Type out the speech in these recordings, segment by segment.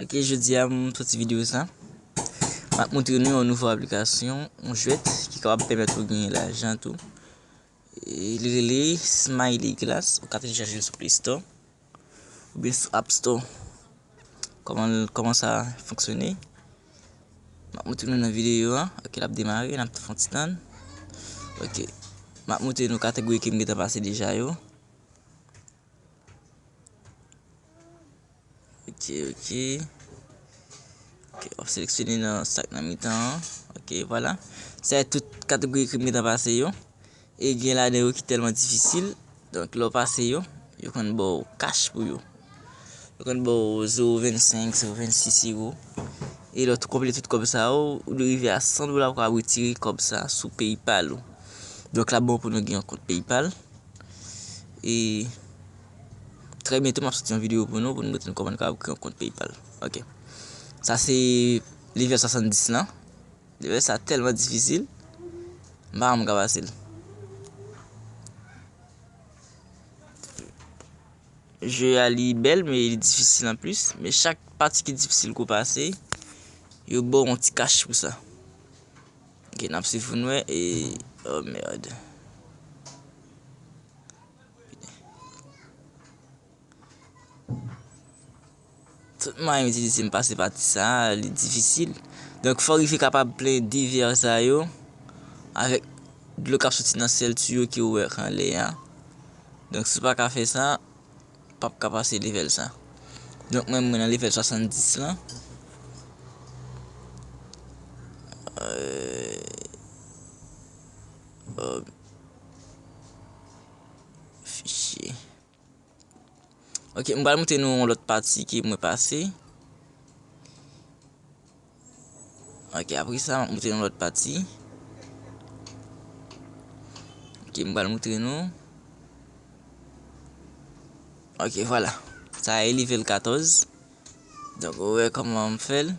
Ok jodi a m soti videyo sa M ap montre nou yon nouvo aplikasyon Yon jwèt ki kapab pèmèt ou genyen lajan tou E li rele Smiley Glass Ou ka telechaje l sou play store Oubyen sou app store Kòman sa fonksyone M ap montre nou nan videyo a Ok l ap demare n ap fè yon ti tann Ok M ap montre nou kategori ke m gentan pase deja yo Ok ok Ok wap seleksyone nan sak nan mitan an Ok vwala Sa e tout kategori ke m gentan pase yo E gen ladan yo ki telman difisil Donk lè w pase yo Yo konn ba w kach pou yo Yo konn ba w 0.25 0.26 euro E lè w tou konplete tout kòb sa yo Ou dwe rive a 100 dola pou w ka retire kòb sa sou paypal ou Donk lap bon pou nou gen yon kont paypal E trè byento map soti yon video pou nou pou nou moutre nou koman kab kreye yon kont PayPal. Ok. Sa se level 70 lan. Level sa telman difisil. Mpa wè mwen ka pase l. Je a li bel men li difisil an plis. Men chak pati ki difisil kou pase, yo baw yon ti kach pou sa. Ok nap swiv poun wè e oh merde. Tout mwayen m itilize m pase pa ti sa li difisil. Donk fòk li te kapab plen divè sa yo avèk dlo kap soti nan sèl tiyo ki ouvèk anlè a. Donk si w pa ka fè sa. pap ka pase level sa. Donk mwen mwen nan level 70 lan. Ok m pral moutre nou yon lot pati ke mwen pase. Ok apre sa map moutre nou lòt pati Ok m pral moutre nou Ok vwala Sa a e level 14 Donk ou wè kòman m fè l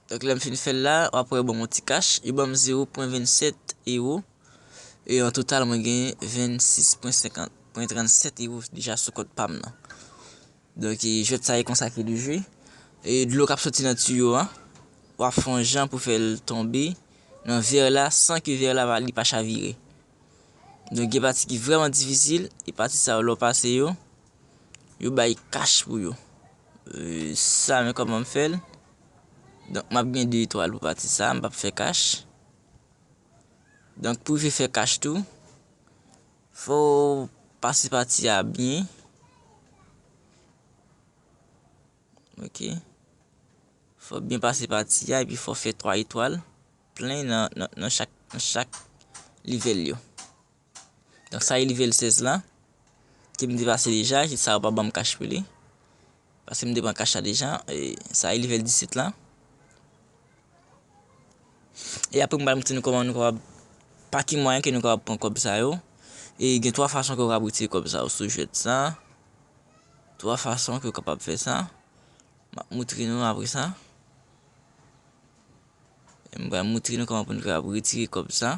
Donk lè m fin fè l la a wap wè yo ban m yon ti kach Yo ban m 0.27 ewo E an total mwen gen 26.50 0.37 ewo deja sou kont pa m nan Donk jwèt sa e konsa ke li jwe. E dlo kap soti nan tiyo an, wap fè yon jan pou fèl tonbe nan vèr la san ke vèr la li pa chavire. Donk gen pati ki vrèman difisil, e pati sa yo lè w pase yo, yo bay kach pou yo. Sa men kòman m fèl, donk map gen 2 etwal pou pati sa, m pap fè kach. Donk pou rive fè kach tou. Fow pase pati a byen ok fow byen pase pati a epi fow fè 3 etwal plen nan chak nan chak livèl yo donk sa e livèl 16 la kem te pase deja ki sa yo pa banm kach pou li. Paskem te pran cash la deja sa e level 17 la e apre mwen pral montre nou koman nou kapab pa ki mwayen ke nou kapab pran kob sa yo e gen 3 fason ke ou kapab retire kob sa yo sou jwet sa 3 fason ke ou kapab fè sa map montre nou apre sa e mwen pral montre nou koman pou nou kapab retire kob sa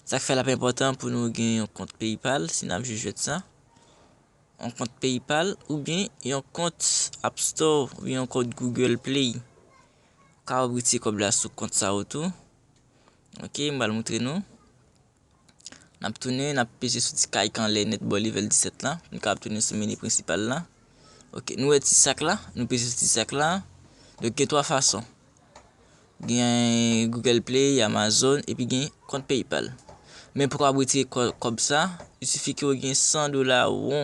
sak fè lap enpotan pou nou gen yon kont paypal si nap jwe jwet sa yon kont PayPal oubyen yon kont App Store oubyen yon kont Google Play. Ou ka retire kòb la sou kont sa yo tou. Ok, m pral moutre nou. N ap tounen, n ap peze sou ti kayik anlè nèt bò level 17 la, pou n kapab tounen sou meni prensipal la. Ok, nou wè ti sak la, nou peze sou ti sak la. Donk gen 3 fason. Gen Google Play, Amazon epi gen kont Paypal. Men pou w kapab retire kòb sa, il sifi ke w gen 100 dola ou.